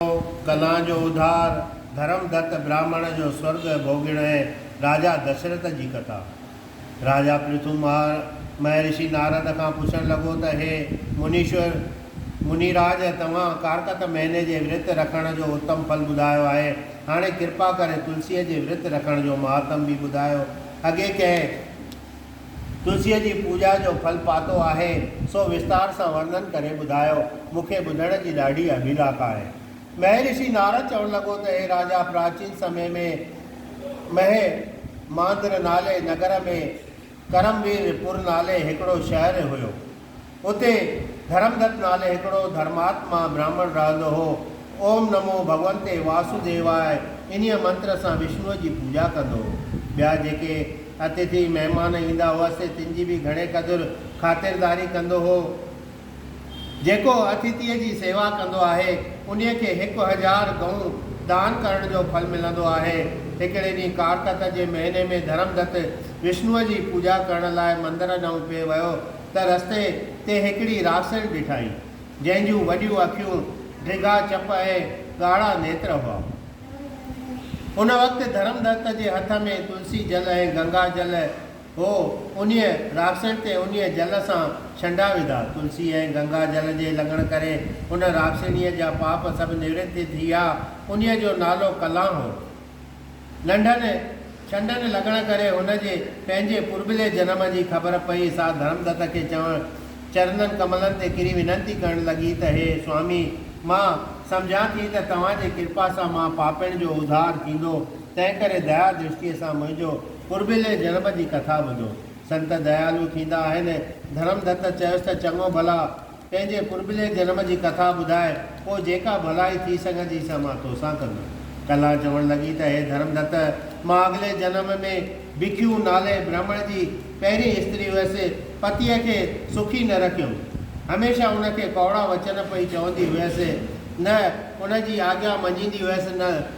جو ڪلان جو اڌار، ڌرم دت براهمڻ جو سورڳ ڀوڳڻ ۽ راجا دشرٿ جي ڪٿا. راجا پرٿو مهرشي نارد کان پڇڻ لڳو ته هي منيشور، مني راج، توهان ڪارڪت مهيني جي ورت رکڻ جو اتم ڦل ٻڌايو آهي، هاڻي ڪرپا ڪري تلسيء جي ورت رکڻ جو مهاتم به ٻڌايو. اڳي ڪنهن. تلسيء جي پوڄا جو ڦل پاتو آهي، سو وستار سان ورنن ڪري ٻڌايو، مون کي ٻڌڻ جي ڏاڍي اڀيلاک آهي. مهرشي نارد چوڻ لڳو ته هي راجا پراچين سمي ۾ مهي ماندر نالي نگر ۾ ڪرموير پور نالي هڪڙو شهر هيو. اتي ڌرمدت نالي هڪڙو ڌرماتما برهمڻ رهندو هو. اوم نمو ڀڳونتي واسوديواء انهيء منتر سان وشنوء جي پوڄا ڪندو هو. ٻيا جيڪي اتٿي، مهمان، ايندا هئس تن جي به گهڻي قدر خاطرداري ڪندو هو. جيڪو اتٿيء جي سيوا ڪندو آهي، انهيء کي هڪ هزار گئون دان ڪرڻ جو ڦل ملندو آهي. هڪڙي ڏينهن ڪارتڪ جي مهيني ۾ ڌرمدت وشنوء جي پوڄا ڪرڻ لاء مندر ڏانهن پئي ويو. ته رستي تي هڪڙي راسيل ڏٺائين، جنهن جون وڏيون اکيون، ڊگها چپ ۽ ڳاڙها نيتر هئا. ان وقت ڌرمدت جي هٿ ۾ تلسي جل ۽ گنگا جل هو. انهيء راسيل تي انهيء جل سان ڇنڊا وڌا. تلسي ۽ گنگا جل جي لڳڻ ڪري ان راسيڻيء جا پاپ سڀ نوڙت ٿي ويا. انهيء جو نالو ڪلان هو. لنڊن ڇنڊن لڳڻ ڪري هن جي پنهنجي پرڀلي جنم جي خبر پئي، سا ڌرمدت کي چوڻ چرنن ڪملن تي ڪري وينتي ڪرڻ لڳي ته هي سوامي، مان سمجهان ٿي ته توهان جي ڪرپا سان مان پاپين جو اڌار ٿيندو، تنهنڪري ديا درشٽيء سان منهنجو پرڀلي جنم جي ڪٿا ٻڌو. سنت ديالو ٿيندا آهن. ڌرمدت چيس ته چڱو ڀلا! پنهنجي پرڀلي جنم جي ڪٿا ٻڌاء، پوء جيڪا ڀلائي ٿي سگهندي سا مان توسان ڪندس. ڪلا چوڻ لڳي ته هي ڌرمدت، مان اڳلي جنم ۾ ڀکيو نالي برهمڻ جي پهرين استري هئس، پتيء کي سکي نه رکيم. هميشه ان کي ڪؤڙا وچن پئي چوندي هئس، نه ان جي آجيا مڃيندي هئس نه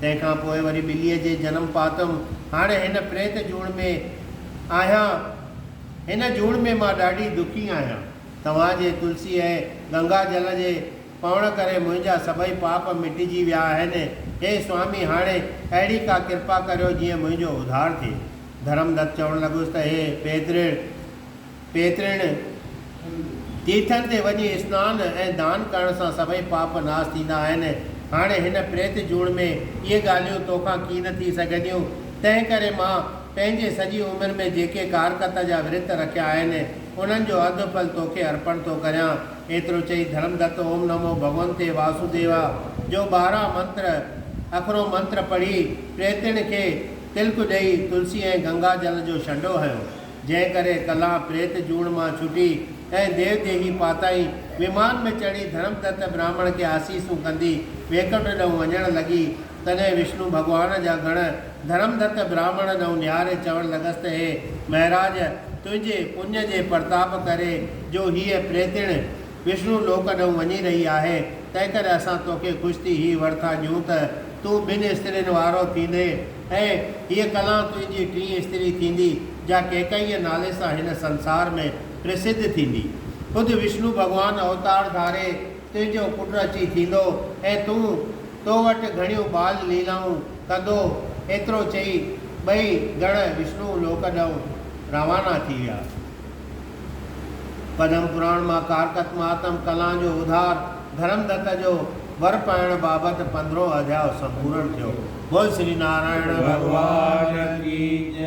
تنهن کان پوء وري ٻليء جي جنم پاتم. هاڻ هن پريت جوڻ ۾ آهيان. هن جوڻ ۾ مان ڏاڍي دکي آهيان. توهان جي تلسي ۽ گنگا جل جي پوڻ ڪري منهنجا سڀئي پاپ مٽجي ويا آهن. هي سوامي هاڻي اهڙي ڪا ڪرپا ڪريو جيئن منهنجو اڌار ٿئي. ڌرمدت چوڻ لڳس ته هي پيترڙ! پيترڻ، تيرٿن تي وڃي اسنان ۽ دان ڪرڻ سان سڀئي پاپ ناس ٿيندا آهن. هاڻي هن پريت جوڻ ۾ اهي ڳالهيون تو کان ڪين ٿي سگهنديون. تنهن ڪري مان پنهنجي سڄي عمر ۾ جيڪي ڪارڪت جا ورت رکيا آهن، انهن جو اڌ ڦل تو کي ارپڻ ٿو ڪريان. ايترو چئي ڌرمدت اوم نمو ڀڳونتي واسوديوا جو ٻارهن منتر اکرو منتر پڙهي پريتڻ کي تلڪ ڏئي تلسي ۽ گنگا جل جو شنڊو هنيو. جنهن ڪري ڪلان پريت جوڻ مان ڇٽي ۽ ديو ديهي پاتائين ومان ۾ چڙهي ڌڻم دت براهمڻ کي آسيسون ڪندي ويڪنٺ ڏئون وڃڻ لڳي. تڏهن وشنو ڀڳوان جا گڻ ڌڻم دت براهمڻ ڏئون نهاري چوڻ لڳس ته هي مهراج! تنهنجي پڃ جي پرتاپ ڪري جو هيء پريتڻ، وشنو لوڪ ڏانهن وڃي رهي آهي، تنهنڪري اسان توکي خوش ٿي هي ور ٿا ڏيون ته تون ٻن استرين وارو ٿيندين ۽ هيء ڪلان تنهنجي ٽين استري ٿيندي، جا ڪيڪئيء نالي سان هن سنسار ۾ پرسڌ ٿيندي. خود وشنو ڀڳوان اوتار ڌاري تنهنجو پٽ اچي ٿيندو ۽ تون تو وٽ گهڻيون ٻال ليلائون ڪندو. ايترو چئي ٻئي گڻ وشنو لوڪ ڏانهن روانا ٿي ويا. پدم پراڻ مان ڪارتڪ مهاتم ڪلان جو اڌار ڌرم دت جو ور پائڻ بابت پندرهون اڌياء سمپورڻ ٿيو. بول سري نارائڻ ڀڳوان ڪي جئي.